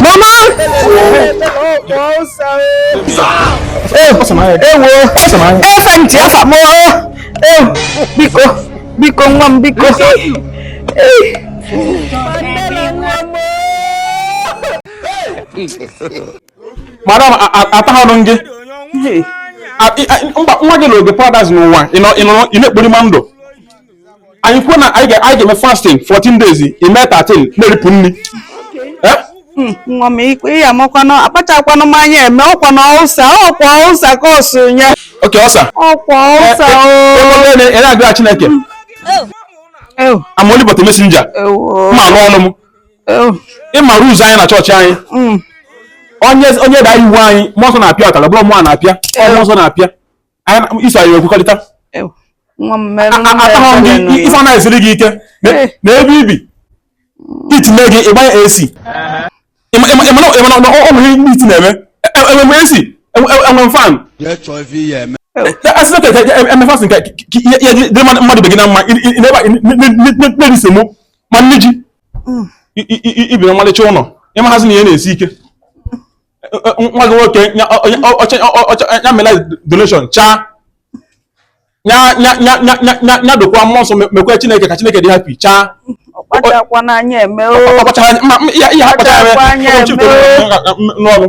Mama! Ewo! Efa ntị afa m Biko! Biko nwa m biko! Madam, atahụrụ m gị. Nwa gị na oge paradise n'ụwa, ị na-ekpori ma ndụ. anyị kwuo na anyị ga-eme fasting 14 days ime 13 na-eripụ nri eh? hmm, nwa m ikwe ya amakwa na akpachakwanụ m anya eme ọkwa na ulcer ọkwa ulcer ka ọ so nye okay ulcer ọkwa ulcer eh, eh, ị na-agwa Chineke hmm. oh. I'm only but a messenger ma anụ ọnụ m ị ma rules anyị na chọọchị anyị hmm. onye da iwu anyị mmụọ nsọ na-apịa ụtarị ọ bụrọ mụ na-apịa mmụọ nsọ na-apịa i so anyị ekwekọrịta ife anaghị esiri gị ike na ebe i bi heat nye gị ị gbanye AC ị ma na ọ nwere ndị heat na-eme enwe AC enwe fan a sị na ka eme fasting ka ihe dị mmadụ ibe gị na mma na-eri semo ma nni ji i bi na ọmalịcha ụlọ ị mahazi na ihe na-esi ike nwa gị nwoke ya mela donation chaa ya dokwa mmụọ nsọ mekwa chineke ka chineke dị happy chaa ihe ha kpachara n'ọrụ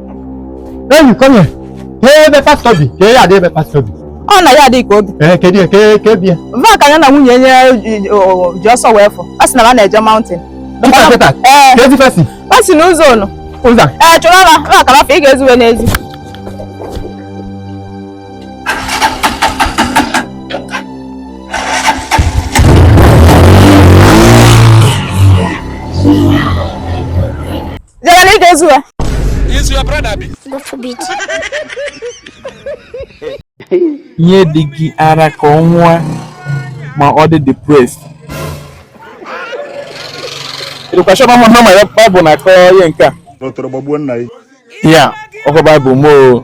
Hey come here, ka ebe pastọ bi, ka ya adị ebe pastọ bi. ọ na ya adịghị ka obi Ee, kedu ya, ka ka ebi ya. va ka ya na nwunye ya ji- o- ji ọsọ wee fụ a sị na ha na-eje mountain Kịta kịta, ee ka ezi fesi. ọ si na ụzọ unu Ụzọ. ee chụrụ ọla na akara afọ ị ga-ezuwe n'ezi Jere na ị ga-ezu ya. Is your brother abi? God forbid. Nye di gị ara ka ọ ṅụọ ma ọ dị depressed. Ị dịkwa sure na mụ hama ya Baịbụl na-akọ ihe nke a. Otoro gbagbuo nna ya. Ya, ọkọ Baịbụl moo.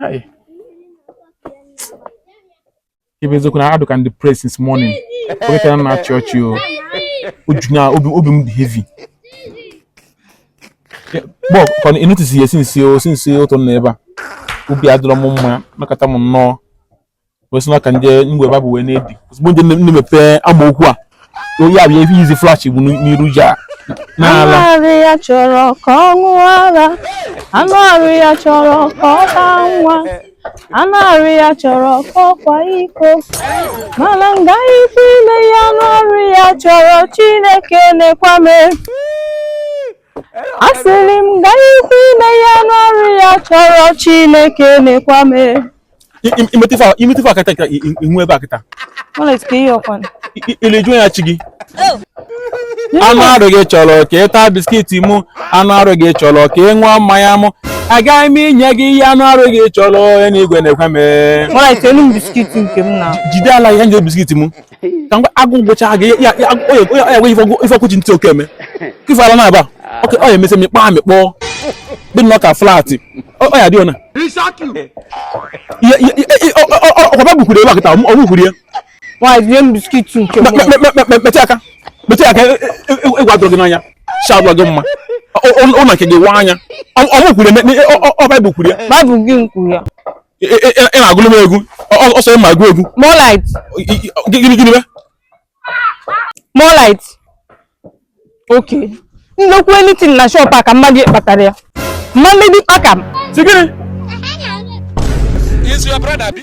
Hi. Babe eziokwu na adịkwa m depressed since morning. Forget ka m na-achị ọchị o. Uju na obi obi m dị heavy. But, ka ị notice ihe since o since ụtụtụ na ebe a. Obi adịrọ m mma, nakọta m nnọọ. kwesị na ka ndị mgbe baịbụl wee na-edi ozugbo ndị nne mepee amaokwu a onye abịa ebe izi flesh bụ n'iru ji a anụ arụ ya chọrọ ka ọ ṅụọ ara anụ arụ ya chọrọ ka ọ baa nwa anụ arụ ya chọrọ ka ọ kwaa iko mana m gaghịkwa ime ya anụ arụ ya chọrọ chineke nekwa m asịrị m gaghịkwa ime ya anụ arụ ya chọrọ chineke nekwa m imetụ ife aka kịta ihu ebe a kịta ileju ya chi gị oh. anụ arụ gị chọrọ ka ị taa biskiti mụ anụ arụ gị chọrọ ka ị ṅụọ mmanya mụ agaghị m inye gị ihe anụ arụ gị chọrọ onye nọ n'igwe nekwa m jide ala ihe nje biskiti mụ ka mgbe agụụ gụcha gị ya enwe ife ọkụchi ntị oke eme ka ife ala na-aba ọ ya emesị mịkpọ amịkpọ dị nnọọ ka flat ọ ya dị ọna ọkwa baịbụl kwuru ebe a kịta ọ bukwuru ya mechie aka mechie aka ịgwa dụrụ gị n'anya shabụla gị mma ụlọ nke gị wa anya ọ bukwuru ya ọ baịbụl kwuru ya ị na-agụlụ m egwu ọ sọ ị ma agụ egwu more light gịnị gịnị more light okay nnekwu anything na shop a ka mmadụ kpatara ya mma mmebi kpaka m si gịnị is your brother bi